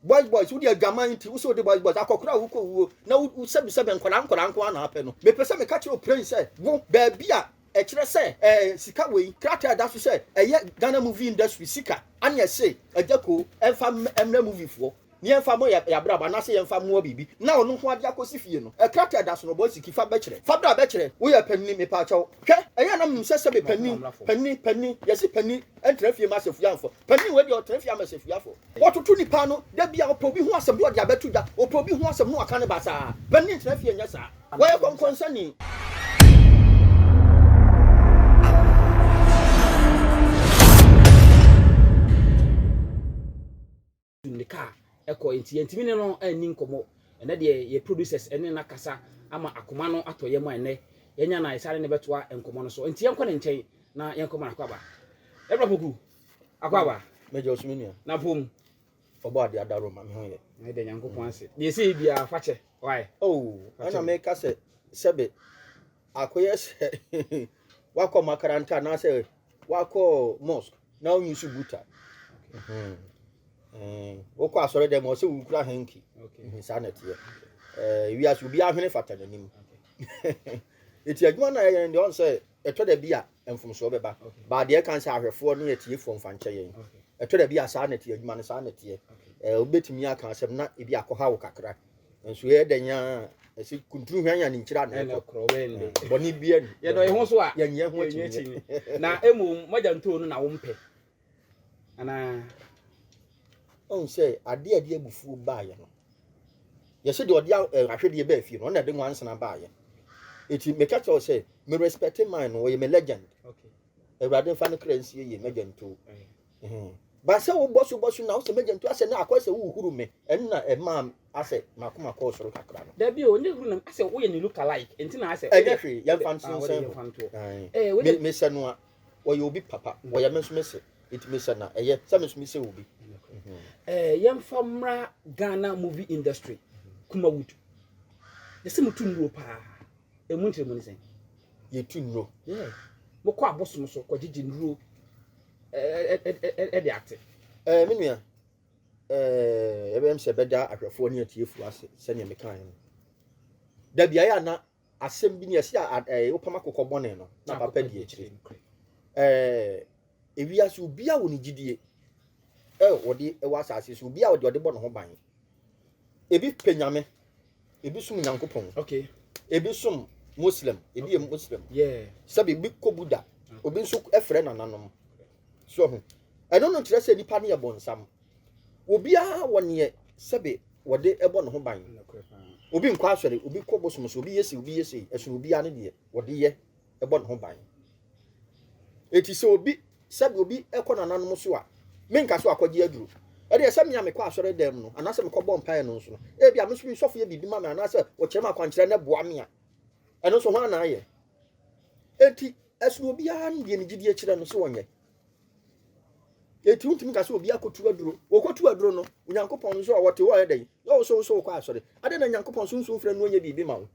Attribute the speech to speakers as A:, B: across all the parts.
A: Boys boys wode adwaman nti wosɛ wode boys boys akɔkora a wokɔ wuo na wosɛbisɛbɛ nkwadaa nkwadaa nko ara na apɛ no mepɛ sɛ meka kyerɛ oprɛn sɛ wo baabi a ɛkyerɛ sɛ ɛɛ sika wei krataa ɛda so sɛ ɛyɛ Ghana movie industry sika ane ɛse agya koo ɛmfa mmrɛ movie foɔ ne yɛmfa mo yɛ abrabɔ anaasɛ yɛmfa mmoa biribi na ɔno nko ade akɔsi fie no ɛkrataa ɛda so no bɔ siki fa bɛkyerɛ fa bra bɛkyerɛ woyɛ panini mepɛ akyɛw hwɛ ɛyɛ anam nim sɛ sɛbe panini panini panini yɛse panini ɛntra fie ma asafua mfɔ panini wei deɛ ɔtra fie ama asafua fɔ Wɔtoto nnipa ano. Da biara wɔpɛ obi ho asɛm na wɔde abɛto dwa. Wɔpɛ obi ho asɛm na wɔaka no basaa. Bɛn ne ntena fie nyɛ saa. Wɔyɛ kɔnkɔnsani.
B: ne kaa ɛkɔ enti yɛntumi ne no anni nkɔmmɔ ɛnɛ deɛ yɛ producers ɛne no akasa ama akoma no atɔ yɛ mu a ɛnɛ yɛnya na yɛsane ne bɛtoa nkɔmmɔ no so enti yɛnkɔ ne nkyɛn na yɛnkɔma no akɔ aba ɛbra poku Akɔ aba. Mɛgya ɔsom nua.
A: Na pom.
B: Ɔbɔ adeɛ ada
A: roma me ho yɛ. Na ɛda Nyankopɔn ase.
B: Deɛ ɛsɛ yɛ biara fa kyɛ. Why? Oh, ɛna meka
A: sɛ sɛbe akɔyɛ sɛ wakɔ makaranta anaasɛ wakɔ mosque na wonyi so buta. Hmm. Eh, wokɔ asɔre dɛ ma ɔsɛ wonkura hanki hmm, saa na ɛteɛ eh, wiase obi ahwene fata n'anim ɛti adwuma no a ɛyɛ no deɛ ɔn sɛ Ɛtɔ da bi a mfomsoɔ bɛba, but deɛ ɛkan sɛ ahwɛfoɔ ne atiefoɔ mfa nkyɛ yɛn. Ɛtɔ da bi a saa na ɛteɛ, adwuma no saa na ɛteɛ. Eh, wobɛtumi aka asɛm na ebi akɔha wo kakra. Nso yɛyɛ dɛn a ɛsɛ kunturu hwan a ne nkyira na ɛkɔ. Bɔne
B: bia ni.
A: Yɛdɔ yɛn ho so a, yɛnyɛ
B: ho akyinnyeɛ.
A: Na mmom,
B: mogya ntoo no na wompɛ. anaa
A: ɔhu sɛ adeɛ a ɛde abufuo baeɛ no yɛsɛ deɛ ɔde eh, ahwedeɛ baa fie no ɔna ɛde nwansena baeɛ ɛti meka kyerɛ wo sɛ me respecte man no ɔyɛ me legend awurade mfa no kra nsie yie magya ntuo ba sɛ wobɔ so bɔ so na wosɛ magya ntuo asɛ na akɔ sɛ wohuru me ɛnna ɛmaa asɛ makoma kɔɔ soro kakra no dabi o ne huru nam asɛ
B: woyɛ ne look alike nti na asɛ ɛnyɛ hwee yɛmfa nsensɛn
A: ho mesɛ no a Wɔyɛ obi papa. Wɔyɛ me nso me se. Nti me sɛ na ɛyɛ sɛ me nso me se obi. Ɛɛ
B: yɛmfa mmra Ghana movie industry Kumawood. Yɛse mo tu nnuro paa. Ɛmu nkyerɛmu ne sɛn? Yɛ tu nnuro.
A: Yeah. Mo kɔ
B: abosom so kɔ gyegye nnuro ɛde ate. Ɛɛ me nua.
A: Ɛɛ yɛbɛyɛm sɛ ɛbɛda ahwɛfoɔ ne atiefoɔ ase sɛnea mekaeɛ no. Da biaeɛ a na Asɛm bi nie, ɛse a ad eh, wopam akokɔ bɔne no, na papa di akyire. Eh, ewiase, obiara wɔ ne gyidie, eh, wɔde wɔ asase so, obiara wɔde ɔde bɔ ne ho ban. Ebi pɛ Nyame, ebi som Nyankopɔn, okay. ebi som Muslim, ebi yɛ Muslim, yeah. sɛbe ebi kɔ Buddha, obi nso frɛ nananom. So wahu? Ɛno no nkyerɛ sɛ nnipa no yɛ bonsam. Obiara wɔ neɛ sɛbe wɔde bɔ ne ho ban. Obi nkɔ asɔre, obi kɔ bosom so, obi yɛ sei, obi yɛ sei. Ɛsono obiara ne deɛ wɔde yɛ bɔ ne ho ban. Eti sɛ obi sɛbe obi kɔ nananom so a, menka so akɔgye aduro. Ɛdeɛ sɛ me a mekɔ asɔre dan mu no, anaasɛ mekɔbɔ mpaeɛ no nso no, ebia me nso me sɔfo yɛ biribi ma me anaasɛ wɔkyerɛ me akwankyerɛ na ɛboa me a, ɛno nso hwan na ayɛ? Enti Ɛsono obiara ne deɛ ne gyidie kyerɛ no sɛ ɔnyɛ. Eti wontumi ka sɛ obi akotu aduro. Wɔkɔtu aduro no, Onyankopɔn nso a wɔte hɔ yɛ dɛn? Na wo so wo so wokɔ asɔre. Adɛn na Nyankopɔn sunsum frɛ no ɔnyɛ biribi ma wo?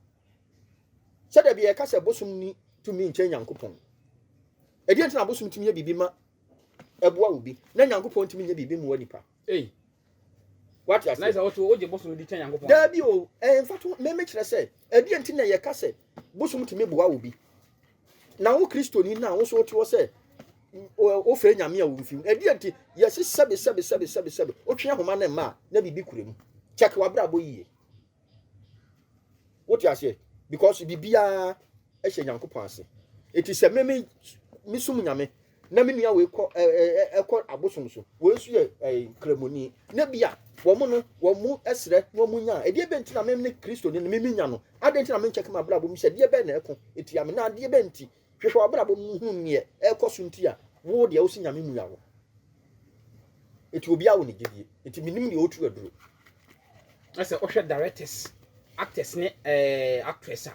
A: Sɛ da bi yɛka sɛ bosom ni tumi nkyɛn Nyankopɔn. Ɛdeɛ nti na bosom tumi yɛ biribi ma ɛboa obi na Nyankopɔn tumi nyɛ biribi mmoa nipa. Ei. Wate aseɛ. Na sɛ woto wogye bosom di kyɛn
B: Nyankopɔn. Daabi o, ɛmfa
A: to me mekyerɛ sɛ ɛdeɛ nti na yɛka sɛ bosom tumi boa obi. Na wo Kristoni no a wo nso wote hɔ sɛ wofrɛ Nyame a womfi mu. Ɛdeɛ nti yɛse sɛbe sɛbe sɛbe sɛbe sɛbe wotwe ahoma no mma a na biribi kura mu. Kyɛke w'abrabɔ yie. Wote aseɛ? Because biribiara hyɛ Nyankopɔn ase. Eti sɛ me me mesum Nyame na me nua wei kɔ ɛɛ ɛkɔ abosom so. Wei nso yɛ ɛɛ kramoni. Na bi a wɔn no wɔn srɛ na wɔn nya. Ɛdeɛ bɛn ti na me ne Kristo ne me me nya no? Adeɛ nti na me nkyɛke m'abrabɔ mu sɛ deɛ bɛn na ɛko etia me na adeɛ bɛn ti Hwehwɛ w'abrabɔ mu hunu neɛ ɛɛkɔ so nti a woo deɛ wosi Nyame mua wo. Eti obiaa wɔ ne gyedie. Eti menim deɛ otu aduro. Na
B: sɛ wohwɛ directors, actors ne eh, actress a,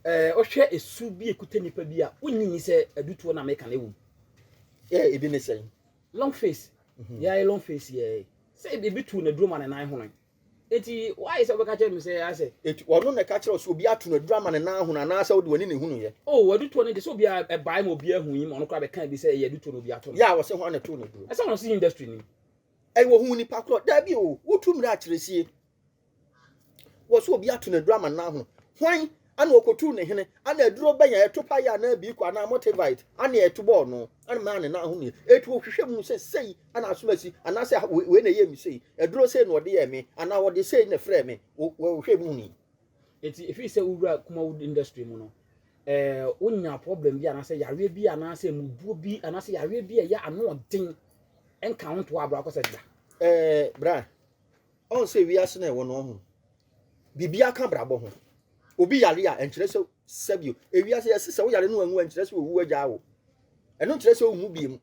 B: eh, wohwɛ esu bi ekuta nipa bi a, wonyi ni sɛ adutuo na meka no ɛwom. Eh, ebi
A: ne sɛn? Long face,
B: mm-hmm. yeah, long face, yeah. Sɛ ebi tuu n'aduro ma ne nan hono. Enti woayɛ sɛ wobɛka kyerɛ me sɛ ara sɛ. Enti ɔno na ɛka kyerɛ wo
A: sɛ obiara to no aduru ama ne nan ahono anaasɛ wode w'ani na ehunuiɛ? O, adutoɔ no deɛ, sɛ obiara
B: ɛbae ma obiara hui ma ɔno koraa bɛkaa bi sɛ
A: ɛyɛ
B: adutoɔ na obiara to no. Yɛ a
A: wɔse
B: hwan na ɛtoo
A: no
B: aduro? Ɛsɛ
A: wɔn
B: se industry
A: no
B: mu. Ɛyɛ
A: wɔhuu nipa korɔ? Daabi o, wotu mmara akyerɛ sie. Wɔse obiara to no aduru ama ne nan ahono. Hwan Ana okotuu ne hene, ana aduro bɛn a ɛto paeɛ anaa biiko anaa motivite ana ɛto bɔɔ no, ana maa ne nan ahomeeɛ. Enti ɔhwehwɛɛ mu huu sɛ sei ana asom asi, anaasɛ ah, wei na ɛyɛɛ me sei, aduro sei na ɔde yɛɛ me, anaa ɔde sei na ɛfrɛɛ me, ɔhwehwɛɛ mu hunii. Enti ɛfiri sɛ
B: wowura Kumawood industry mu no, eh, wonya problem bi anaasɛ yareɛ bi anaasɛ mmubuo bi anaasɛ yareɛ bi a ɛyɛ ano ɔden nka wo ntoa abrɛ akɔ sɛ da? Eh, bra.
A: Ɔn sɛ wiase no a ɛwɔ no ɔho biribiara ka abrabɔ ho. Obi yare a ɛnkyerɛ sɛ sa bio. Ewiase yɛse sɛ woyare no wanwu a ɛnkyerɛ sɛ owu agyaa wo. Ɛno nkyerɛ sɛ wommu biem.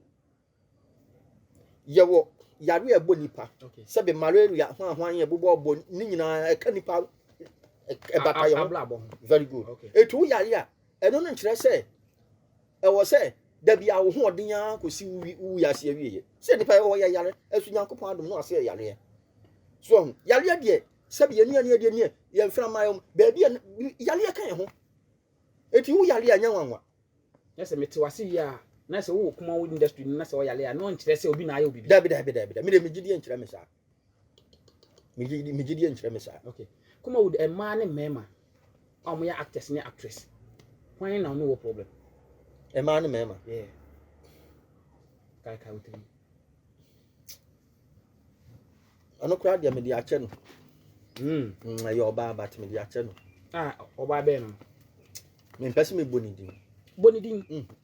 A: Yɛwɔ yare a ɛbɔ nipa sɛ bɛ malaria ho ahoan yɛ bobɔ ɔbɔ ne nyinaa ɛka nipa ɛbata yɛ ho. Very good. Etu wo yare a ɛno no nkyerɛ sɛ Ɛwɔ sɛ da biara wo hoɔden ara kɔsi wo wiase awieɛ. Sɛ nnipa yɛwɔ yɛ yare, ɛso Nyankopɔn adom no asɛ yareɛ. So ɔho, yareɛ deɛ, sɛbi yɛn nuane adeɛ neɛ, yɛn mfra mmaa yɛm, baabi a yareɛ ka yɛn ho. Eti wo yareɛ a nyɛ nwanwa. Na sɛ mete
B: wase wie a, na sɛ wowɔ Kumawo industry no na sɛ ɔyare a, na ɔnkyerɛ sɛ obi na ayɛ wo biribi. Dabi, dabi, dabi, dabi, me deɛ
A: megye die nkyerɛ me saa. megye deɛ nkyerɛ me saa okay come on with
B: mmaa ne mmarima a wɔyɛ actors ne actress hwan na ɔne wɔ problem mmaa ne
A: mmarima yeah
B: kaakae wotiri
A: ɔno koraa deɛ mede akyɛ no ɛyɛ ɔbaa but mede akyɛ no ɔbaa bɛɛ
B: no mempɛ
A: sɛ mebɔ ne din bɔ ne din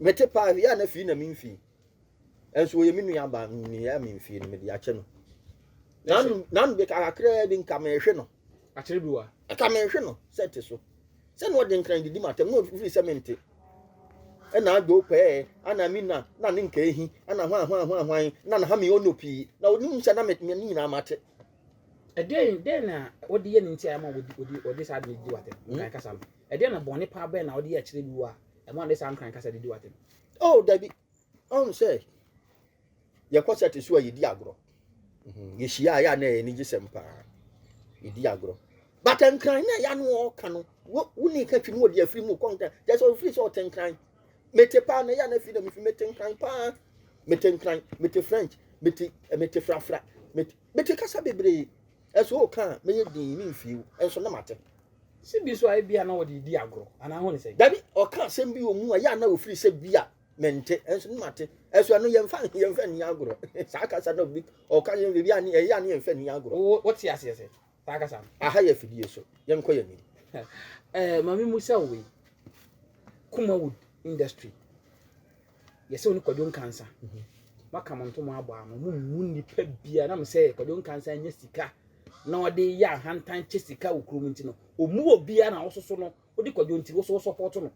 A: Mete paa no yɛ a na fii na memfii. Nso ɔyɛ me nua baa no ne yɛ a memfii no mede akyɛ no. Nanu nanu de kakraa bi nka mehwe no. Akyere bi wa.
B: Nka mehwe no
A: sɛ te so. Sɛ na ɔde nkran didi matam na ɔfiri sɛ mente. Ɛna adwo pɛɛ ana mi na na ne nka ehi ana hwan hwan hwan hwan na na ha mi ɔno pii na onim sɛ na me ne nyinaa mate. Ɛdɛn
B: dɛn na ɔde yɛ ne nti a ɛma ɔde ɔde ɔde saa de di wate nkan kasa no. Ɛdeɛn na bɔne paa bɛn na wode yɛ kyerɛ bi wo a ɛma wode saa nkran kasa de di w'atɛm? Oh, dabi.
A: Ɔhu sɛ yɛkɔ sɛte so a yɛdi agorɔ. Mhm. Yɛhyia a yɛ a na ɛyɛ anigyesɛm paa. Yɛdi agorɔ. But nkran na ɛyɛ ano ɔka no, woni ka twi no wɔde afiri mu kɔ nkran. Kyɛ sɛ ɔfiri sɛ ɔte nkran. Mete paa na ɛyɛ a na afiri na mefi mete nkran paa. Mete nkran, mete French, mete eh, mete frafra, mete, mete kasa bebree. Ɛso ɔka a mɛyɛ din ne mfie, ɛnso na mate. Sɛ bi so a
B: ebia na wɔde redi agorɔ anaa ho ne sɛn? Dabi, ɔka asɛm bi
A: wɔ mu a ɛyɛ a na ofiri sɛ bi a mente, nso ne mate. Ɛso ɛno yɛmfa yɛmfa nni agorɔ. Saa kasa no bi ɔka yɛn biribi a ne ɛyɛ a ne yɛmfa nni agorɔ. Wo wote aseɛ sɛ
B: saa kasa no? Aha yɛ afidie so.
A: Yɛnkɔ yɛn anim. Ɛɛ maame mu sɛ wei.
B: Kumawood industry. Yɛse wo ne Kwadwo Nkansa moaka mo ntom abɔ ano mo mmu nnipa bia nam sɛ Kwadwo Nkansa anya sika na ɔde yɛ ahantan kyɛ sika wɔ kurom nti no ɔmu wɔ bia na wososo no wode Kwadwo nti woso wo support no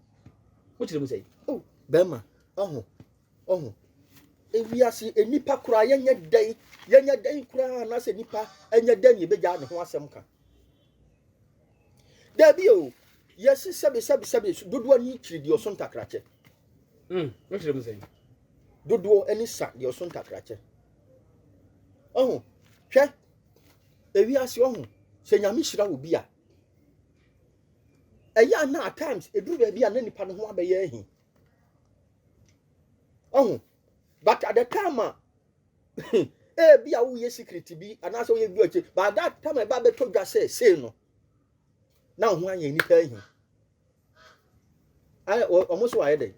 B: mo kyerɛ mu sɛ oh bɛma
A: ɔho ɔho ewiase nnipa koraa yɛnyɛ dɛn yɛnyɛ dɛn koraa anaasɛ nnipa ɛnyɛ dɛn yɛbɛgyaa ne ho asɛm ka Dabi o, yɛsi sɛbi sɛbi sɛbi so dodoɔ ani kyiri deɛ ɔso ntakrakyɛ. Mm,
B: wokyerɛ mu sɛn? Dodoɔ
A: ani sa deɛ ɔso ntakrakyɛ. Ɔho, hwɛ, ewi ase ɔho, sɛ nyame hyira wo bi a, ɛyɛ a na at times ɛduru baabi a na nipa no ho abɛyɛ ahi. Ɔho, but at the time a Ebia woyɛ secret bi anaasɛ woyɛ bi akyi. By that time ɛba bɛtɔ dwa sɛ sei no na wo ho anyɛ nnipa ahi. Wɔn so ayɛ dɛ.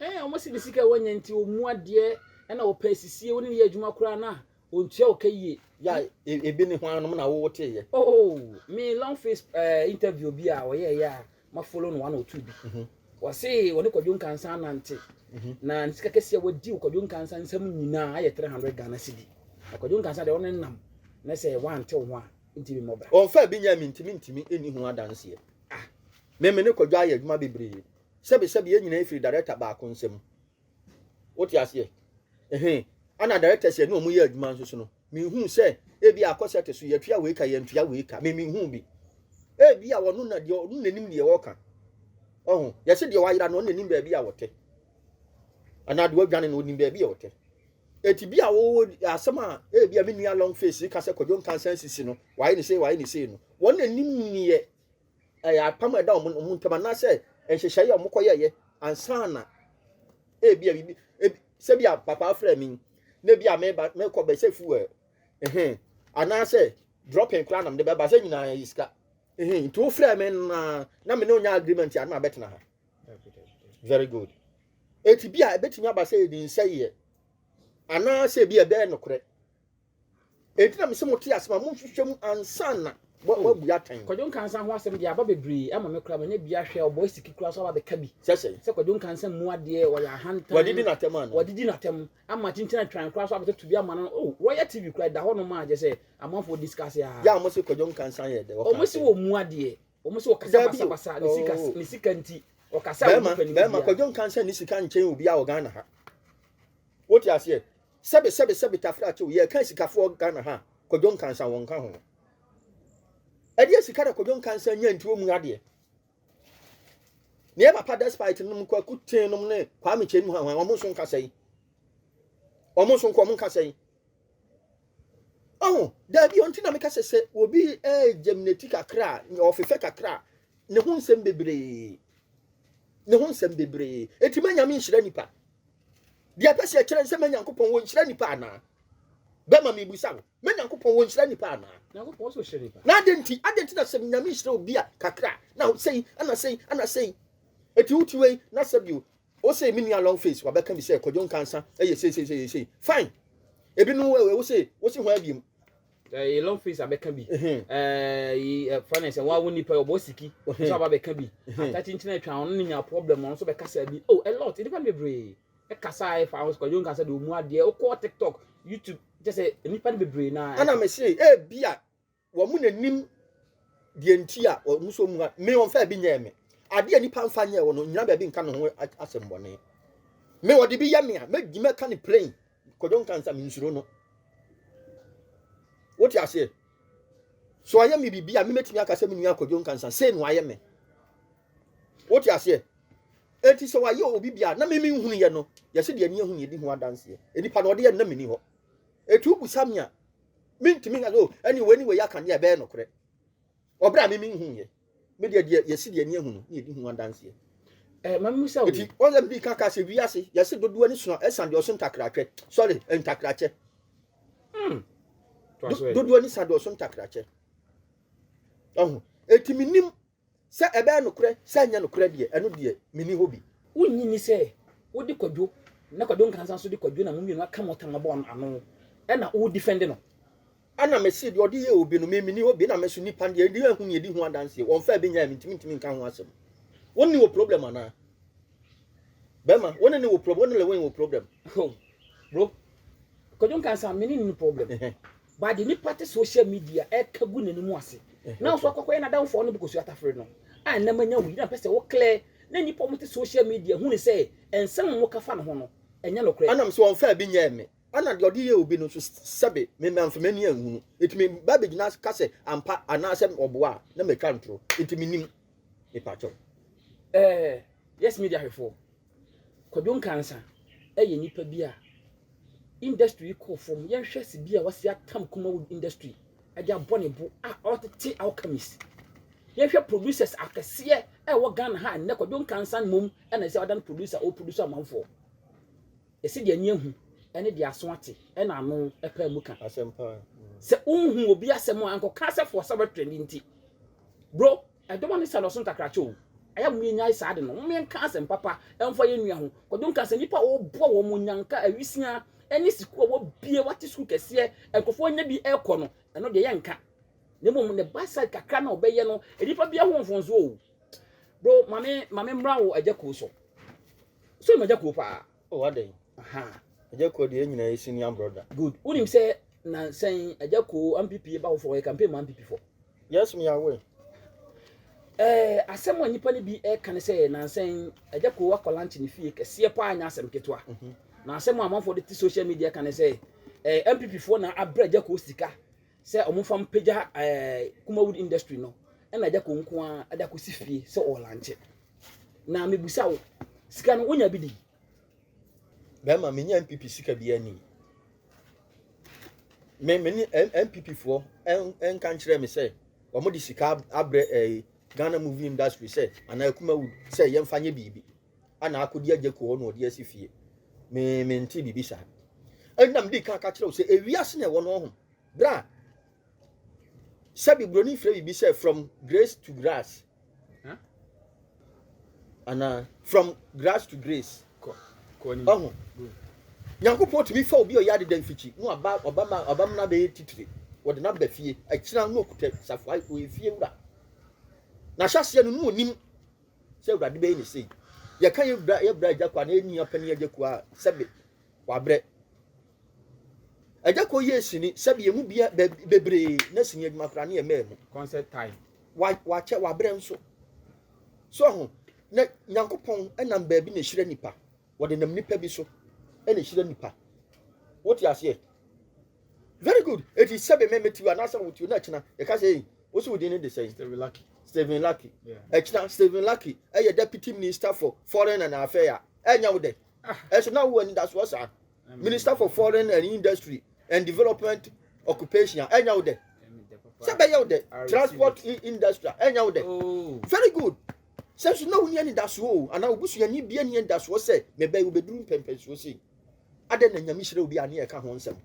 A: Ɛɛ wɔn si ne sika
B: wɔnyɛ nti wɔn mu adeɛ ɛna wɔpɛ sisie wɔn ne yɛ adwuma koraa na wɔn tua wɔka yie. Ya ebi
A: ne ho anom na wɔwɔ te yɛ. Oh me long
B: face ɛɛ interview bi a wɔyɛ yɛ a Ma follow no one or two bi. Mhm. Wɔse wɔne Kwadwo Nkansah anante mhm. na ne sika kɛseɛ a wadi wɔ Kwadwo Nkansah nsɛm nyinaa ayɛ 300 Ghana cedi. Na Kwadwo Nkansah deɛ ɔne nam na sɛ wante wo ho a nti memmɔ bra. Ɔmfa bi nyɛ me ntimi
A: ntimi ɛni ho adanseɛ. Ah. Me me ne Kwadwo ayɛ adwuma bebree. Sɛbesɛbe yɛn nyinaa firi director baako nsam. wote aseɛ ɛhɛn ɛna director sɛ ne ɔmo yɛ adwuma nso so no mehu sɛ ebi akɔ sɛ te so yɛtua wei ka yɛntua wei ka me mehu bi ebi a wɔn na deɛ ɔno na nim deɛ wɔka ɔho yɛsɛ deɛ wayera no ɔno na nim baabi a wɔte anaa deɛ wadwane no ɔnim baabi a wɔte eti bi a wɔwɔ asɛm a ebi a me nua long face ka sɛ kɔdwo nkansan sisi no wayɛ ne sei wayɛ ne sei no wɔn na nim neɛ ɛyɛ apam a ɛda wɔn wɔn ntam anaasɛ nhyehyɛeɛ a wɔkɔyɛeɛ ansa na ebi a bibi ebi sɛ bi a papa afrɛ mi na ebi a meba mekɔ bɛsɛ fuel ɛhɛn anaasɛ dropping koraa na mede bɛba sɛ nyinaa yɛ sika ɛhɛn nti wofrɛ mi na na me ne onya agreement a na abɛtena ha very good eti bi a ebetumi aba sɛ yɛde nsɛyɛ anaasɛ bi a ɛbɛyɛ nokorɛ. Enti na mese mote asɛm a monhwehwɛ mu ansa na wɔabu atɛn. Kwadwo Nkansa ho asɛm deɛ
B: aba bebree ama me koraa manya bi ahwɛ ɔbɔ asiki koraa so aba bɛka bi. Sɛ sɛ. Sɛ Kwadwo Nkansa
A: mu
B: adeɛ ɔyɛ ahantan. Wadidi n'atɛm ana? Wadidi
A: n'atɛm ama
B: kyinkyin atwan koraa so abɛtoto bi ama no oh Royal TV koraa ɛda hɔ nom a kyɛ sɛ amanfoɔ discuss aa. Yɛ a wɔse Kwadwo
A: Nkansa yɛ dɛ ɔka asɛm. Wɔn se wɔ mu adeɛ
B: wɔn se ɔkasa basabasa ne sika ne sika nti ɔkasa a obi pɛ ne biribiara. Bɛɛma Kwadwo
A: Nkansa nni sika nkyɛn obiara wɔ Ghana ha wote aseɛ. Sɛbe sɛbe sɛbe Tafra tew, yɛreka asikafoɔ Ghana ha a, Kwadwo Nkansah wɔ nka ho. Ɛdeɛ sika na Kwadwo Nkansah nya nti ɔmu adeɛ. Ne yɛ papa despite nom Kwaku Tee nom ne Kwame Kyei nom hwan hwan, ɔmo nso nka sɛi. Ɔmo nso nko ɔmo nka sɛi. Ɔho, daabi ɔnti na meka sɛ sɛ obi ɛɛ germinate kakra a, ɔfefɛ kakra a, ne ho nsɛm bebree. Ne ho nsɛm bebree. Eti ma Nyame nhyira nipa. Deɛ ɛpɛ sɛ ɛkyerɛ sɛ me Nyankopɔn wɔnhyira nnipa anaa? Bɛma mebisa wo, me Nyankopɔn wɔnhyira nnipa anaa?
B: Na adɛn nti, adɛn nti
A: na
B: sɛ
A: Nyame hyira obi a kakra na sei ana sei ana sei ɛti woti wei na sɛ bio wo sei me nua long face wabɛka bi sɛ kɔdwo nkansa ɛyɛ sei sei sei sei fine ebi no wo sei wo se ho abiem ɛyɛ long
B: face abɛka bi ɛfa ne sɛ wɔn a wɔn nipa ɔbɔ siki nso aba bɛka bi atakyinkyin atwa ɔno ne nya problem ɔno nso bɛkasa bi oh a lot nipa no bebree ɛkasa a ɛfa ahosuo kwadwo nkasa de ɔmu adeɛ ɔkɔ tiktok youtube kyɛ sɛ nipa no bebree na ɛna mɛ se ebi
A: a wɔn na nim deɛ nti a wɔn nso mu ha me wɔn fɛ bi nyɛ me adeɛ nipa nfa nyɛ wɔn nyina baabi nka ne ho asɛm bɔne me wɔde bi yɛ me a mɛ di mɛ ka ne plain Kwadwo nka nsa mensuro no. Wote aseɛ? So ayɛ me biribi a memetumi aka sɛ me nua Kwadwo nka nsa sei no ayɛ me. Wote aseɛ? Enti sɛ wayɛ obi bi a na me menhunu yɛ no yɛse deɛ ani ahu ne ɛdi ho adanseɛ. Nipa na ɔde yɛ no na menni hɔ. Eti wobusa me a mentumi nka sɛ oh ɛne wei ne wei aka deɛ ɛbɛyɛ nokorɛ. Wɔ bere a me minhuu yɛ. Me deɛ deɛ yɛsi deɛ ani ahu no na yɛdi ho adanseɛ. Eh, ma mmusa
B: wo. Eti ɔyɛ bi kaka sɛ
A: wiase yɛsi dodo ani sua ɛsan deɛ ɔso ntakratwɛ. Sorry, ntakrakyɛ. Hmm. Do, dodo ani sa deɛ ɔso ntakrakyɛ. Ɔho. Eti menim sɛ ɛbɛyɛ nokorɛ sɛ ɛnyɛ nokorɛ deɛ ɛno deɛ meni hɔ bi. Wonnye nni sɛ
B: wode Kwadwo na Kwadwo Nkansah nso de Kwadwo na mo mmienu aka mo tam abɔ ano ɛna wo defend no? Ɛna me see
A: deɛ ɔde yɛɛ obi no, me menni hɔ bi, ɛna me nso nnipa deɛ ɛde ahu nea ɛdi ho adanseɛ, wɔmfaa bi nyaeɛ me ntumi ntumi nka ho asɛm. Wo ne wɔ problem anaa? Bɛma, wo ne ne wɔ problem, wo ne Lewin wɔ problem. Oh, bro,
B: Kwadwo nka nsa, me ne ne problem. But deɛ nipa te social media ɛka gu n'anim ase, na nso akɔkɔ yɛ n'adamfoɔ ne bokosua tafere no, a ɛnam anya wo yi, na mpɛ sɛ wo clear, na nipa wɔn te social media hu ne sɛ, nsɛm wɔn ka fa ne ho no, ɛnyɛ nokorɛ. Ɛna me se wɔmfaa bi nyaeɛ me.
A: Ɛna deɛ ɔde yɛ obi no nso sɛbe mema mfa m'ani anhunu. Enti me ba bɛgyina ka sɛ ampa anaasɛ ɔboa a na matwa ntoro. Enti menim. Mepakyɛw. Ɛɛ
B: Yes Media hwɛfoɔ, Kwadwo Nkansah yɛ nipa bi a industry yi kɔɔ fam. Yɛnhwɛ sibea a wasi atam Kumawood industry de abɔ ne bo a ɔretete Alchemist. Yɛnhwɛ producers akɛseɛ a ɛwɔ Ghana ha a nnɛ Kwadwo Nkansah mmom na ɛsɛ sɛ ɔdan producer a ɔreproduce amanfoɔ. Ɛsɛ deɛ ani ahu ne deɛ aso ate na ano pae mu ka asɛm paa. Sɛ
A: wonhu
B: obi asɛm a nkɔka sɛ for sɛ wobɛtwerɛ ne nti. Bro, ɛdɔma ne sɛnɔso nkakrakyɛ o. Ɛyɛ a mom yɛnyae saa ade no. Mom yɛnka asɛm papa mfa yɛn nua ho. Kwadwo ka sɛ nnipa a wɔboa wɔn onyanka awisia ne sukuu a wɔbie wɔate sukuu kɛseɛ nkurɔfoɔ anya bi rekɔ no, ɛno deɛ yɛnka. Na mmom ne backside kakra na ɔbɛyɛ no, nnipa biara ho mfomsoɔ o. Bro ma me ma me mmra wo agya kuo so. So ma agya kuo paa. Oh adɛn. Aha.
A: Agya
B: kuo deɛ nyina
A: yɛ senior brother. Good. Wonim sɛ
B: nansɛn agya kuo MPP ba foforɔ ɔyɛ campaign ma MPP foɔ. Yes me
A: aware. Eh, asɛm
B: a nnipa no bi ɛka ne sɛ nansɛn agya kuo akɔ lunch ne fie kɛseɛ paa nyɛ asɛm ketewa. Mm -hmm. Na asɛm a amanfoɔ de te social media ka ne sɛ eh, MPP foɔ na abrɛ agya kuo sika Sɛ ɔmo fa mpagya ɛɛ Kuma wood industry no ɛna agya kɔ nko ara ɛde akɔsi fie sɛ ɔɔlanche. Na mebusa wo, sika no wonya bi di?
A: Bɛɛma menya NPP sika bi ani. Me me ne NPP foɔ ɛnka nkyerɛ me sɛ ɔmo de sika abrɛ ɛɛ Ghana movie industry sɛ anaa Kuma wood sɛ yɛmfa nyɛ biribi. ana akodi agya kuo hɔ na ɔde asi fie me me nte biribi saa ɛna mede ka ka kyerɛ wo sɛ ewiase na ɛwɔ no ɔho bra sɛbi buroni frɛ biribi sɛ from grace to grass huh? ana from grass to grace ɔho nyankopɔn tumi fa obi ɔyɛ adeda mfikyi na ɔba ɔba ma ɔba mu na bɛyɛ titire wɔde no aba fie akyina no ɔkuta safoa ɔyɛ fie wura na hyɛseɛ no no ɔnim sɛ Awurade bɛyɛ ne sei. Yɛka yɛ bra yɛ bra agya kɔ anaa yɛn nua panyin agya kɔ a sɛbe wabrɛ. Agya kɔ yɛ sini sɛbe yɛn mu bia bebree na sini adwuma koraa ne yɛ mmaa mu. Concert time.
B: Wa wakyɛ
A: wabrɛ nso. So ho na Nyankopɔn ɛnam baabi na ehyira nipa. Wɔde nam nipa bi so ɛna ehyira nipa. Wote aseɛ? Very good. Eti sɛbe me metiw anaasɛ wotiw na akyina yɛka sɛ ei wosi wo din ne de sɛn? Stephen Lucky. Stephen Lucky. Akyina Stephen Lucky ɛyɛ deputy minister for foreign and affairs. Ɛnyɛ wo dɛ. Ɛso na wo ani da soɔ saa. Minister for foreign and industry and development occupation ɛnyɛ wo dɛ. Sɛ bɛyɛ wo dɛ transport industry ɛnyɛ wo dɛ. Oh. Very good. Sɛ so na wo ni ani da soɔ o anaa obusuani bi ani da soɔ sɛ mebɛyɛ wobɛduru mpɛmpɛnsoɔ sei. adɛn na nyame hyerɛ obi a ne yɛka ho nsɛm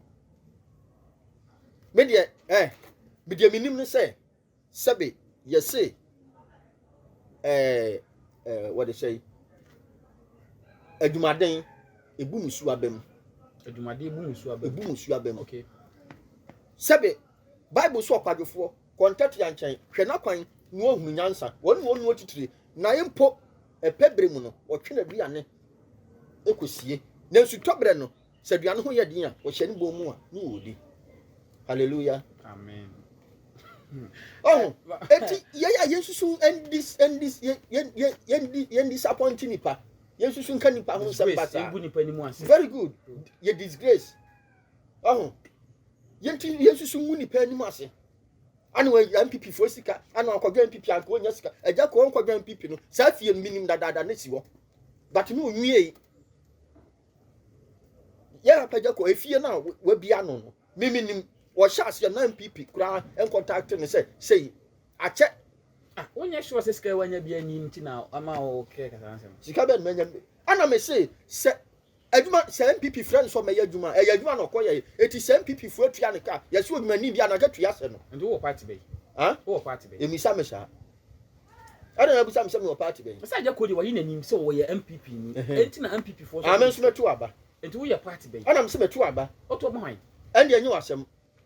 A: me deɛ eh, me deɛ menim ne sɛ sɛbe yɛse eh, eh, wɔde sɛ adwumaden ebu musu aba mu adwumaden ebu
B: musu aba mu ebu musu aba mu okay
A: sɛbe bible so ɔkwadwofoɔ kɔntɛtea nkyɛn hwɛ n'akwan na ɔhunu nyansa wɔn na ɔnu atitire na mpo Ɛpɛ berɛ mu no, wɔtwe n'aduane kɔsie. Nanso tɔ berɛ no, sɛ aduane ho yɛ den a, wɔhyɛ ne bɔn mu a ne wɔdi. Hallelujah. Amen. ɔho eti yɛyɛ a yɛnsusu ɛndis ɛndis yɛndi yɛndisapɔnti nipa yɛnsusu nka nipa ho nsɛm ba saa very good yɛ disgrace ɔho yɛnti yɛnsusu ngu nipa anim ase ana wɔyɛ npp foɔ sika ana ɔkɔdwa npp anka wɔnya sika ɛgya kɔɔ nkɔdwa npp no saa fie no menim dadaada ne si hɔ but ne ɔnwiei yɛ apagya kɔ efie no a wabia no no me menim wɔhyɛ aseɛ na npp koraa nkɔntakte no sɛ sei akyɛ ah, wonyɛ
B: sure sɛ sika wanya bi ani nti na ama wɔkɛ kasa nsɛm sika bɛn manya
A: ana mese sɛ Adwuma, sɛ NPP frɛ no sɛ ɔmmɛyɛ adwuma a, ɛyɛ adwuma na ɔkɔ yɛe. Enti sɛ NPP foɔ atua no ka a, yɛse odwumani bi a, na anka tua hyɛ no. Nti wowɔ party bɛn? Huh?
B: Wowɔ party bɛn? Mmisa me saa.
A: Adɛn na wobisa me sɛ mewɔ party bɛn? Ɔsɛ Agyako deɛ wayi n'anim sɛ
B: ɔyɛ NPP ni, enti na NPP foɔ nso. Ah, me nso mɛto aba.
A: Nti woyɛ party
B: bɛn? Ɛna mese mɛto aba.
A: Woto aba hwan?
B: Ɛndeɛ ɛnyɛ w'asɛm.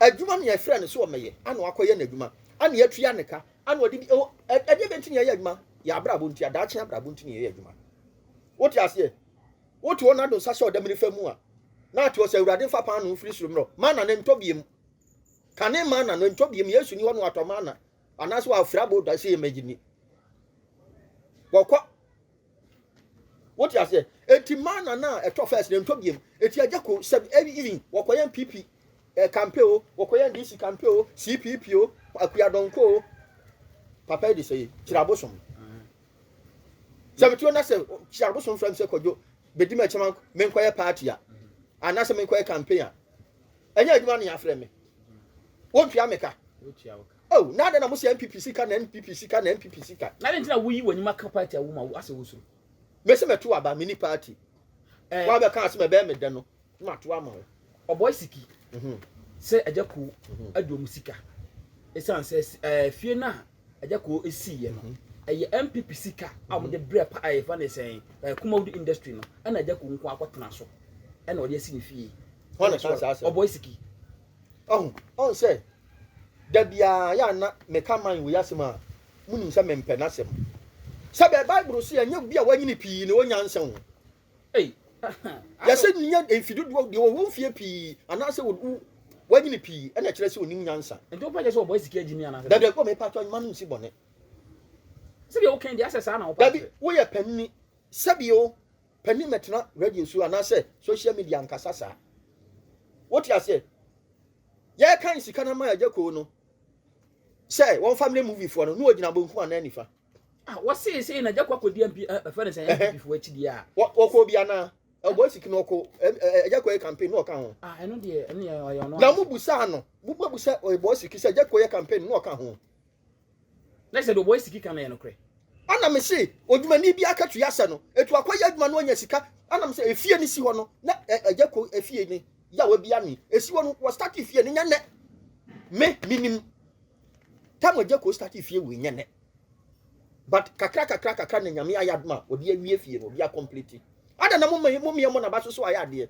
A: adwuma ne ɛfrɛ no sɛ ɔmɛyɛ ana wakɔyɛ n'adwuma ana yɛtua ne ka ana ɔde bi oh, ɛdeɛ bɛnti ne yɛyɛ adwuma yɛ abrabɔ nti adaakye abrabɔ nti ne yɛyɛ adwuma wote aseɛ wote hɔ nado nsa hyɛ ɔdamire fa mu a na ate ɔsɛ awurade mfa paa no mfiri soro mmerɛ mana no ntɔ biem kane mana no ntɔ biem yesu ni hɔ no atɔ mana anaasɛ wafiri abɔ da sɛ yɛmɛgye ni wɔkɔ Wote aseɛ? Enti mana no a ɛtɔ first no ɛntɔ biam. Eti agya ko sɛ ɛyi even wɔkɔyɛn PP eh, kampe o, wɔkɔyɛn DC kampe o, CPP o, Akuya Dɔnko o. Papa yi de sɛ kyerɛ abosom. Sɛ metuo na sɛ kyerɛ abosom frɛ me sɛ kɔdwo bɛdi me akyɛm menkɔyɛ party a anaasɛ menkɔyɛ campaign a ɛnyɛ adwuma ne afrɛ me. Wontua me ka. Oh na adɛn na mo se NPP sika na NPP sika na NPP sika. Na adɛn nti na woyi w'anim
B: aka party a wo ma wo asɛ wo suro. Me se mɛto
A: aba me ni party. Eh. Wa bɛ kaa se mɛbɛɛ me dɛ no ma to ama wo. Ɔbɔe siki
B: mm-hmm. sɛ agya koo mm-hmm. adi ɔmo sika. Esan sɛ eh, fie no a agya koo esii yɛ no. Mm-hmm. Ɛyɛ NPP sika a wɔde mm-hmm. brɛ pa ɛyɛ fa ne sɛn eh, Kumawudi industry no ɛna agya koo nko akɔtena so ɛna ɔde asi ne fie.
A: Hɔn na saa
B: asɛm. Ɔbɔe siki. Ɔho,
A: ɔn sɛ, da biaa yɛ a na meka man wei asem a, monim sɛ mempɛ n'asem. Sɛbɛɛ Bible se ɛnyɛ obi a wanyini pii na ɔwɔ nyansa o.
B: Ei, yɛse
A: nyɛ mfe dodoɔ, deɛ ɔwɔ mfeɛ pii anaasɛ wo, wo, wanyini pii ɛna ɛkyerɛ sɛ ɔnim nyansa. Nti wopɛ kyerɛ sɛ ɔbɔɛ sika
B: gyimi anaasɛ? Dada, bɔ mepaatɔ mma no
A: nsi bɔne.
B: Sɛdeɛ woka yi deɛ asɛ saa na wopɛ akyerɛ? Dabi, woyɛ panini,
A: sɛbi o. Panin mɛtena radio so anaasɛ social media nkasa saa. Wote aseɛ? Yɛkan sika no ama agya koo no sɛ wɔmfa mmerɛ movie foɔ no na wɔgyina bonkum anaa nifa. Ah, wɔsee
B: sei na agya kɔ akɔdi MP ɛfɛ eh, no sɛ MP foɔ akyidi a. Wɔkɔ bi anaa?
A: Ɛbɔ siki no ɔkɔ agya kɔ yɛ campaign na ɔka ho. Ah, ɛno deɛ ɛno
B: yɛ ɔyɛ ɔno. Na mo busaa no,
A: mo busa ɔyɛ bɔ siki sɛ agya kɔ yɛ campaign na ɔka ho. Na
B: sɛ deɛ ɔbɔyɛ siki ka no yɛ nokorɛ. Ɛna me se
A: odwumani bi akatua sɛ no etu akɔyɛ adwuma no anya sika ɛna me se efie no si hɔ no na ɛgya ko efie no yawa bi ano esi hɔ no wɔ start efie no nyɛ nɛ me minim tam ɛgya ko start efie wɔ nyɛ nɛ but kakra kakra kakra na nyame ayɛ adoma ɔde awie efie no ɔde akɔmplete ada na mo mmea mo na ba soso ayɛ adeɛ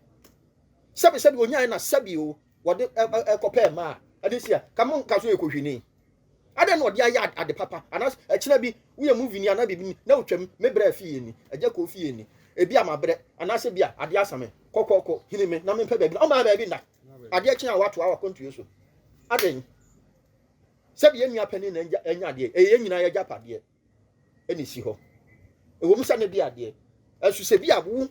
A: sɛbi sɛbi onyae na sɛbi o wɔde kɔpɛɛ maa ɛde si a ka mo nka so yɛ kohwini adɛn na ɔde ayɛ ade papa anas ɛkyena bi woyɛ mu vini anaa biribi na wotwam me brɛ fie ni agya kɔ fie ni ebi a mabrɛ anaasɛ bi a adeɛ asa me kɔkɔkɔ hini me na mempɛ baabi na ɔmaa baabi nna adeɛ kye a wato a wakɔntuo so adɛn sɛbi yɛn nua panin na ɛnya adeɛ ɛyɛ nyinaa yɛgya padeɛ na esi hɔ. Ɛwɔ mu sɛ na bi adeɛ ɛso sɛ bi a wo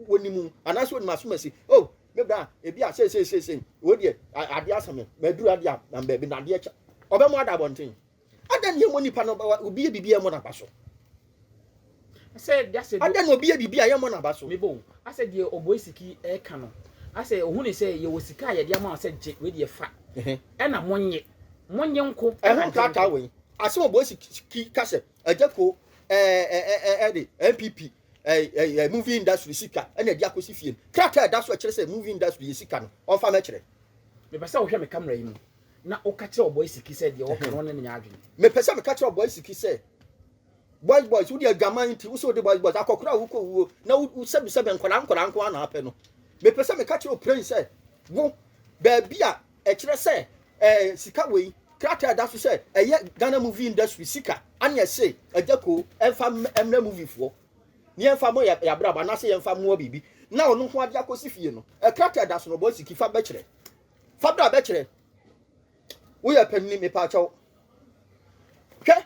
A: wɔnim anaasɛ wɔnim asomasi o oh, me bra ebi a sɛsɛsɛsɛ wɔ deɛ adeɛ asame maduru adeɛ a na baabi na adeɛ kyɛ ɔbɛ mu ada abɔnten ada ne yɛmmɔ nipa no obi yɛ biribi ɛmmɔ n'aba so
B: ada na obi yɛ biribi a yɛmmɔ
A: n'aba so mebɔ asɛ deɛ
B: ɔbɔ esiki ɛka no asɛ ohun ne sɛ yɛwɔ sika a yɛde ama sɛ gye wei deɛ fa ɛna monyɛ monyɛ nko ɛho taataa
A: wei asɛm a ɔbɔ si ki ka sɛ agya ko ɛde npp ɛɛ movie industry sika ɛna ɛde akɔsi fie no krataa ɛda so ɛkyerɛ sɛ movie industry yɛ sika no ɔmfa mɛkyerɛ. mepɛ sɛ wohwɛ
B: me kamera yi mu na woka kyerɛ ɔbɔ siki sɛ deɛ wɔka no ɔne ne nyɛ adwene. mepɛ sɛ meka kyerɛ ɔbɔ
A: siki sɛ boys boys wode adwaman nti wo sɛ wode boys boys akɔkora a wokɔ wuo na wosɛbisɛbɛ nkɔla nkɔla nko a na apɛ no mepɛ sɛ meka kyerɛ ɔpirɛn sɛ wo baabi a Ɛkyerɛ sɛ ɛɛ sika wei krataa ɛda so sɛ ɛyɛ Ghana movie industry sika ɛne ɛse agya ko ɛmfa ɛmrɛ movie foɔ ne ɛmfa mo yɛ abrabɔ anaasɛ yɛmfa mmoa biribi na ɔno ho ade akɔsi fie no ɛkrataa ɛda so no bɔ siki fa bɛkyerɛ fa bra bɛkyerɛ woyɛ panini mepaakyɛw hwɛ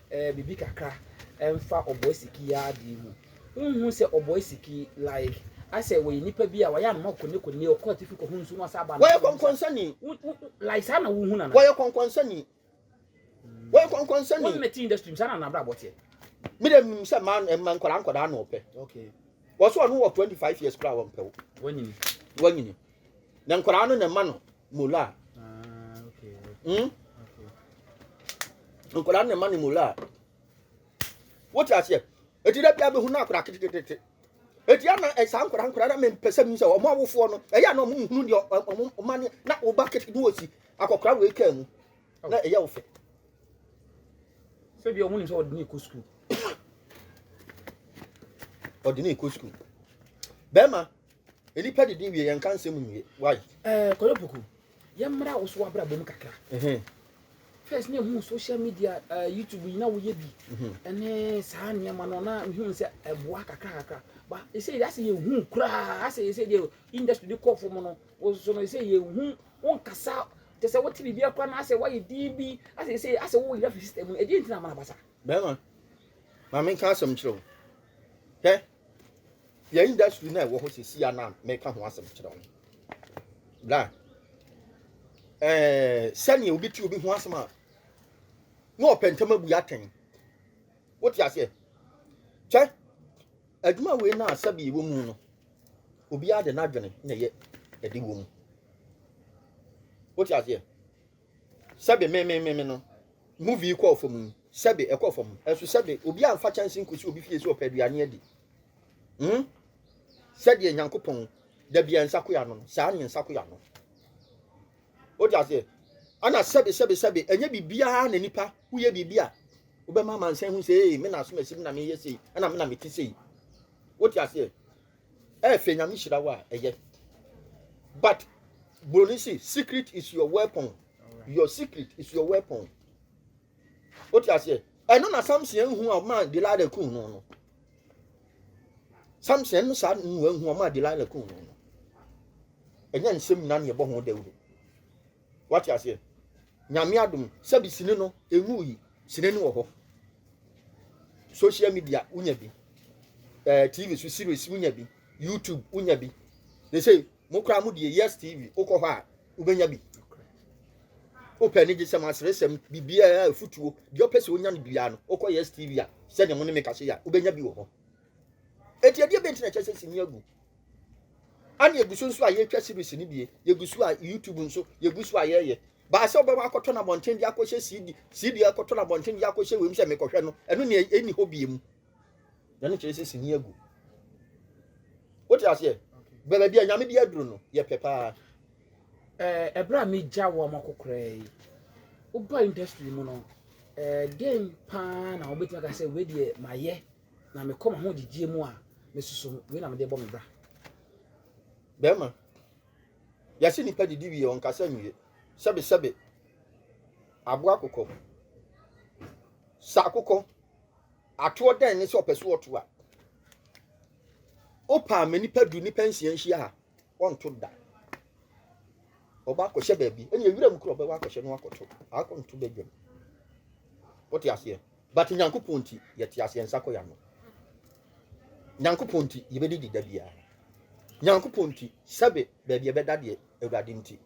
B: eh biribi kakra ɛnfa ɔboa siki yi ara deɛ mu wonhu sɛ ɔboa siki like asɛ wɔyɛ nipa bi a wɔyɛ anoma kone kone ɔkɔ atifi kɔ ho nsu no asa aba no wɔyɛ kɔnkɔnsani
A: like saa na
B: wohu nana wɔyɛ kɔnkɔnsani
A: wɔyɛ kɔnkɔnsani
B: wɔn mɛti industry saa na nabra bɔ teɛ mi dɛ mi
A: sɛ maa ɛma nkɔla nkɔla na ɔpɛ okay wɔsɔ
B: ɔno wɔ
A: twenty five years kura wɔn pɛw wɔnyini wɔnyini na nkɔla no na ɛma no mola
B: hmm
A: nkwadaa na ɛma ne mola wote aseɛ eti dɛ bi a bɛ hu na akwadaa ketekete eti ana ɛsaa nkwadaa nkwadaa na mɛ mpɛsɛ mi sɛ ɔmo awofoɔ no ɛyɛ ana ɔmo nhunu deɛ ɔmo ɔmo ani na ɔba ketekete na ɔsi akɔkora wei kaa mu na ɛyɛ ɔfɛ.
B: sɛbi ɔmo nim sɛ ɔde ne kɔ sukuu ɔde ne kɔ
A: sukuu bɛrima Nnipa didi wie, yɛnka nsɛm nwie. Why? Eh, Kɔyɔpuku,
B: yɛmmra wo so w'abrabɔ mu kakra. Mhm. First na ehu social media, uh, YouTube yi na woyɛ bi. Mhm. Ɛne saa nneɛma no na ehu sɛ ɛboa kakra kakra. Ba ɛsɛ yɛ asɛ yɛhu koraa asɛ ɛsɛ deɛ industry de kɔ fam no wososo no ɛsɛ yɛhu wonkasa te sɛ wote biribi akora no asɛ woayɛ din bi asɛ ɛsɛ asɛ woyera fi system no ɛdeɛ ntina amana basa. Bɛrima,
A: ma menka asɛm kyerɛ wo. Hwɛ. yɛn industry na ɛwɔ hɔ sisi a na mɛka ho asɛm kyerɛ wɔn na ɛɛ sɛnea obi ti obi ho asɛm a na ɔpɛ ntɛm abu atɛn wote aseɛ kyɛ adwuma wei na asɛbi wɔ mu no obiara de n'adwene na ɛyɛ ɛde wɔ mu wote aseɛ Sɛbe me me me me no movie yi kɔɔ fam yi sɛbe ɛkɔɔ fam ɛso sɛbe obi amfa kyɛnse nkosi obi fie sɛ ɔpɛ aduane adi hmm sɛdeɛ nyankopɔn da bia nsa koya no saa ne nsa koya no wode aseɛ ana sɛbe sɛbe sɛbe ɛnyɛ biribiara na nipa woyɛ biribi a wobɛma amansan hu sɛ ee me na asom asi me na meyɛ sei ɛna me na mete sei wote aseɛ Eh fɛ nyame hyira wo a ɛyɛ. But Broni si secret is your weapon. Your secret is your weapon. What you say? ɛno na samson ehu a ɔma delilah kun no no samson no saa nua ehu a ɔma delilah kun no no ɛnyɛ nsɛm nyinaa na yɛbɔ ho dawuro Wate aseɛ? Nyame adom sɛbi sini no enwu yi sini no wɔ hɔ social media wonya bi ɛɛ eh, tv so series wonya bi youtube wonya bi they say mo koraa mo deɛ yes tv wokɔ hɔ a wobɛnya bi wopɛ ne gyesɛm aseresɛm biribiaa afutuo deɛ ɔpɛ sɛ wonya no biaa no wokɔ yes tv a sɛdeɛ mo ne me kase a wobɛnya bi wɔ hɔ ɛti ɛdeɛ bɛnti na ɛkyɛ sɛ sini agu ɛna yɛgu so nso a yɛtwa series no bie yɛgu so a youtube nso yɛgu so a yɛyɛ baa sɛ wobɛwɔ akɔtɔ no abɔnten de akɔhyɛ cd cd akɔtɔ no abɔnten de akɔhyɛ wei mu sɛ mekɔhwɛ no ɛno ne ɛni hɔ bie mu ɛno kyerɛ sɛ sini agu wote aseɛ baabi a nyame de aduro no yɛpɛ paa
B: ɛberɛ eh, a megya wɔ ma kokoraa yi woba industry mu no eh, dɛn paa na wobɛtumi aka sɛ wei deɛ mayɛ Na mekɔ m'ahogyegyeɛ mu a, mesusu wei na mede bɔ me bra.
A: Bɛrima, yɛse nipa didi wie ɔnkasa nwie. Sɛbesɛbe, aboa akokɔ. Sa akokɔ, atoɔ dɛn ne sɛ ɔpɛ so ɔto a. Wopɛ a ma nipa du nipa nsia nhyia ha, ɔnto da. Ɔba akɔhyɛ baabi, ɛne ewira mu kura ɔbɛwɔ akɔhyɛ no akɔto, akɔnto badwam. Wote aseɛ? But Nyankopɔn nti yɛte ase yɛn nsa kɔ yano Nyankopɔn nti yɛbɛdidi da biara Nyankopɔn nti sɛbe baabi ɛbɛda deɛ Awurade nti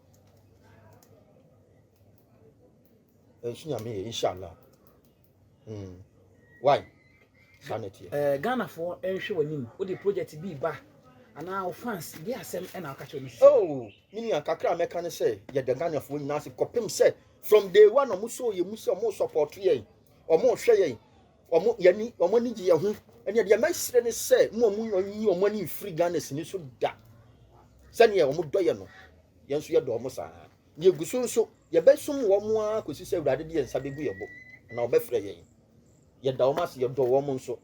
A: ɛnso nyame yɛ inshallah mm. why saa na ɛteɛ eh, Ghanafoɔ
B: ɛnhwɛ w'anim wode project bi ba anaa wo fans de asɛm ɛna woka kyerɛ no sɛ oh, me nua
A: kakra a mɛka ne sɛ yɛda Ghanafoɔ nyinaa ase kɔpem sɛ From day one ɔmo sɔɔ yɛn mu sɛ ɔmo sɔpɔɔto yɛn, ɔmo hwɛ yɛn, ɔmo yɛni, ɔmo ani gye yɛn ho. Ɛnna deɛ mɛsrɛ ne sɛ mo a ɔmo nyi ɔmo ani mfiri Ghana sini so da. Sɛdeɛ ɔmo dɔ yɛn no, yɛn nso yɛdɔ ɔmo saa ara. Na yɛgu so nso, yɛbɛsom wɔn ara kɔsi sɛ Awurade de yɛn nsa bɛgu yɛn bo, anaa ɔbɛfrɛ yɛn. Yɛda wɔn ase, yɛdɔ wɔn nso.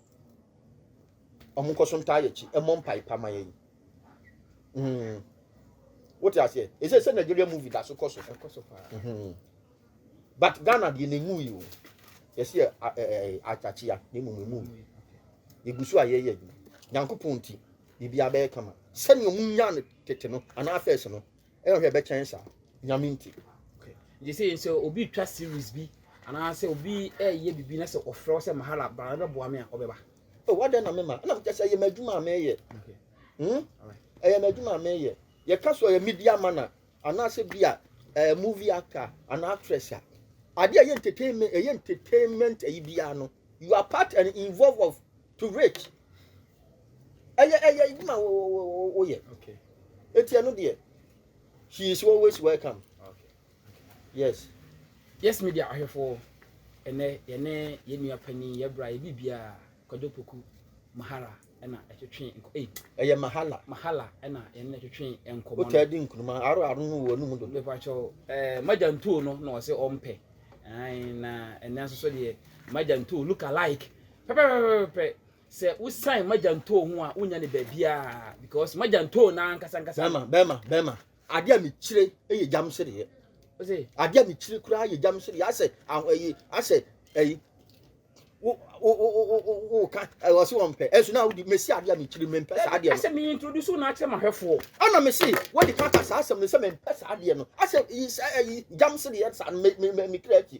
A: Ɔmo nkɔ so ntaa yɛ kyi mmɔ mpae pa ma yɛn. Mm. Wote aseɛ? Ɛsɛ sɛ Nigeria movie da so kɔ so. Ɛkɔ so paa. Mm-hmm. But Ghana deɛ na emu yi o. Yɛsi yɛ akyakyia na emu emu yi. Yɛgu so a yɛyɛ adwuma. Nyankopɔn nti biribiara bɛyɛ kama. Sɛnea ɔmo nyaa no tete no anaa fɛs no ɛna hwɛ ɛbɛkyɛn saa. Nyame nti. Gye sɛ
B: yɛn sɛ obi twa series bi anaasɛ obi ɛyɛ biribi na sɛ ɔfrɛ wo sɛ mahala bra na bɛboa me a ɔbɛba. o oh, wadɛn na me ma
A: ɛna mo kyɛ sɛ ɛyɛ m'adwuma a meyɛ hmm ɛyɛ m'adwuma a meyɛ yɛka so ɔyɛ media man a anaasɛ bi a ɛɛ movie actor anaa actress a ade a ɛyɛ entertainment ɛyɛ entertainment ɛyi biara no you are part and involved of to rich ɛyɛ ɛyɛ adwuma wo wo wo wo yɛ eti
B: ɛno deɛ
A: she is always welcome.
B: Yes Yes Media ahwɛfoɔ, ɛnnɛ yɛne yɛn nua panin yɛbra yɛ biribiara Kwadwo Poku Mahala ɛna ɛtwetwe nkɔ ei. Ɛyɛ Mahala.
A: Mahala ɛna yɛne no
B: twetwe nkɔmɔ no. Wotaa di nkuruma aro
A: aro no wɔ no mu dodo. Mepakyɛw ɛɛ
B: eh, Magya Ntoo no na ɔse ɔmpɛ. Ae na ɛnɛ nso so deɛ Magya Ntoo look alike pɛpɛpɛpɛpɛ. Sɛ wosan Magya Ntoo ho a wonya ne baabiara because Magya Ntoo n'ankasa ankasa. Bɛma bɛma bɛma.
A: Adeɛ a mekyire yɛ gyam sereɛ. Adeɛ
B: a mekyire koraa yɛ
A: gyam sereɛ. Asɛ ahoyi asɛ ɛyi wo wo wo wo wo ka ɛwɔ se wɔn pɛ ɛso na wodi mesi adeɛ a mekyire mempɛ saa adeɛ no. Asɛ me introduce na akyerɛ
B: mahwɛfoɔ. Ɛna mesi
A: wɔde kaka saa asɛm no sɛ mempɛ saa adeɛ no. Asɛ yi sɛ ɛyi gyam sereɛ saa no me me me kira akyi.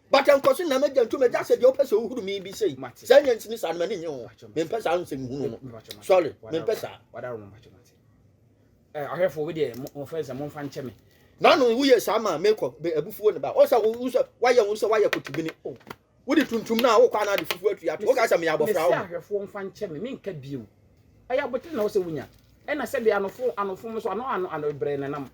A: But ɛnkɔ so na m'agya ntu m'agya sɛ deɛ wopɛ sɛ wohuru me bi sei saa nya nsini saa no m'ani nye ho mempɛ saa nsɛm hunu no sorry mempɛ saa
B: ahwɛfoɔ bi deɛ mofɛ sɛ momfa nkyɛ me na no woyɛ
A: saa ma mekɔ abufuo ne ba ɔsɛ wo sɛ woayɛ wo sɛ woayɛ kotibini oh. wode tuntum no a wokɔ ana ade fufuo atu yɛato woka sɛ meyɛ abɔfra wo ahwɛfoɔ mfa nkyɛ me
B: menka bio ɛyɛ abotene na wo sɛ wonya ɛna sɛdeɛ anofo anofom so ano ano ano brɛ nenam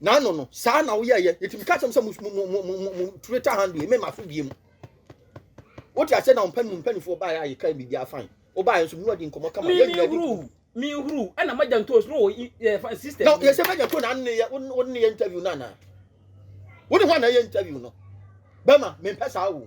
B: na
A: ano no saa na woyɛyɛ nti meka kyɛm sɛ mo twitter handle yi mema so bie mu wote aseɛ na ɔmpɛ no mpanifoɔ baeɛ a yɛka biribi afan wobaeɛ nso mewadi nkɔmmɔ kama yɛnyina di ku
B: mehuru ɛna magya ntoos no wɔ system na yɛsɛ magya ntoos na
A: anneyɛ woneyɛ interview no anaa wone ho ana yɛ interview no bɛma mempɛ saa wo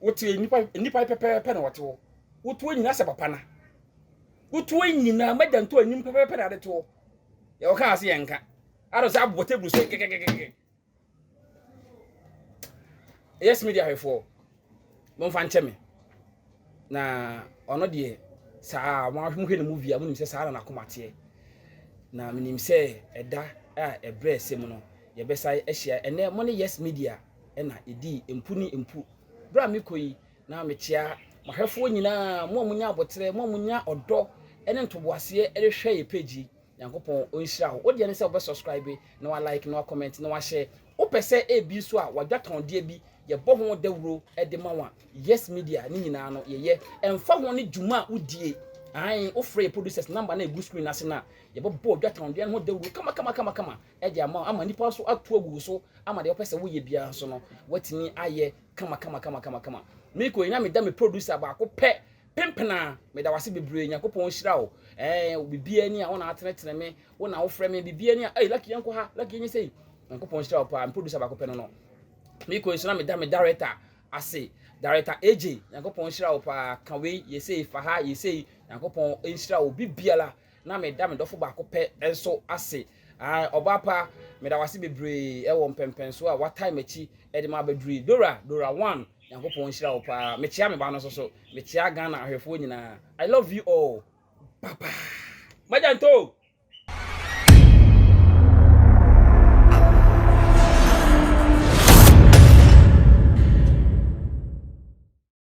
B: wote nnipa nnipa pɛpɛɛpɛ na wɔte hɔ wotu anyina sɛ papa na wotu anyina magya nto anim pɛpɛɛpɛ na ade to hɔ yɛ wɔka ase yɛ nka ara sɛ abobɔ table so kɛkɛkɛkɛ yes media hwɛfoɔ Momfa nkyɛ me. Na ɔno deɛ, saa ara, mohwɛ ne movie a, monim sɛ saa na n'akoma teɛ. Na menim sɛ ɛda a ɛbrɛ ɛsɛ mu no, yɛbɛsan ahyia. Ɛnnɛ, mo ne Yes Media na ɛdii mpu ne mpu. Berɛ a mekɔ yi, na mekyea m'ahwɛfoɔ nyinaa, mo a monya aboterɛ, mo a monya ɔdɔ ne ntoboaseɛ de hwɛ yɛn page yi. Nyankopɔn ɔnhyira wo. Wo deɛ ne sɛ wobɛ subscribe na wa like na wa comment na wa share. Wo pɛ sɛ ebi nso a wadwa tɔndeɛ bi yɛbɔ ho dawuro de ma wo a, Yes Media ne nyinaa no yɛyɛ. Ɛmfa ho ne dwuma a wodie, aane, wo frɛ yɛ producers number no a ɛgu screen no ase no a, yɛbɛbɔ ɔdwa tɔndeɛ no ho dawuro kamakamakama de ama wo ama nnipa nso ato agu wo so ama deɛ wopɛ sɛ woyɛ biara nso no, woatumi ayɛ kamakamakama. Mekɔ yi na meda me producer baako pɛ Penpenaa meda wase bebree nyankopɔn nhyira wo eh biribiara ni a wo na atenetene me wo na wofrɛ me biribiara ni a ei lucky yɛnkɔ ha lucky yɛnyɛ sɛ yi nyankopɔn nhyira wo paa me producer baako pɛ no no mekɔ nso na meda me director ase director AJ nyankopɔn nhyira wo paa ka wei yɛsei fa ha yɛsei nyankopɔn nhyira wo biribiara Na meda me dɔfo baako pɛ nso ase. Ae, ɔbaa pa, meda wo ase bebree wɔ mpɛnpɛnsoɔ a woatae m'akyi de me abɛduru yi. Dora, Dora One, Nyankopɔn nhyira wo pa ara. Mekyea me ba no nso so. Mekyea Ghana ahwɛfoɔ nyinaa. I love you all. Ba ba. Magya ntoo!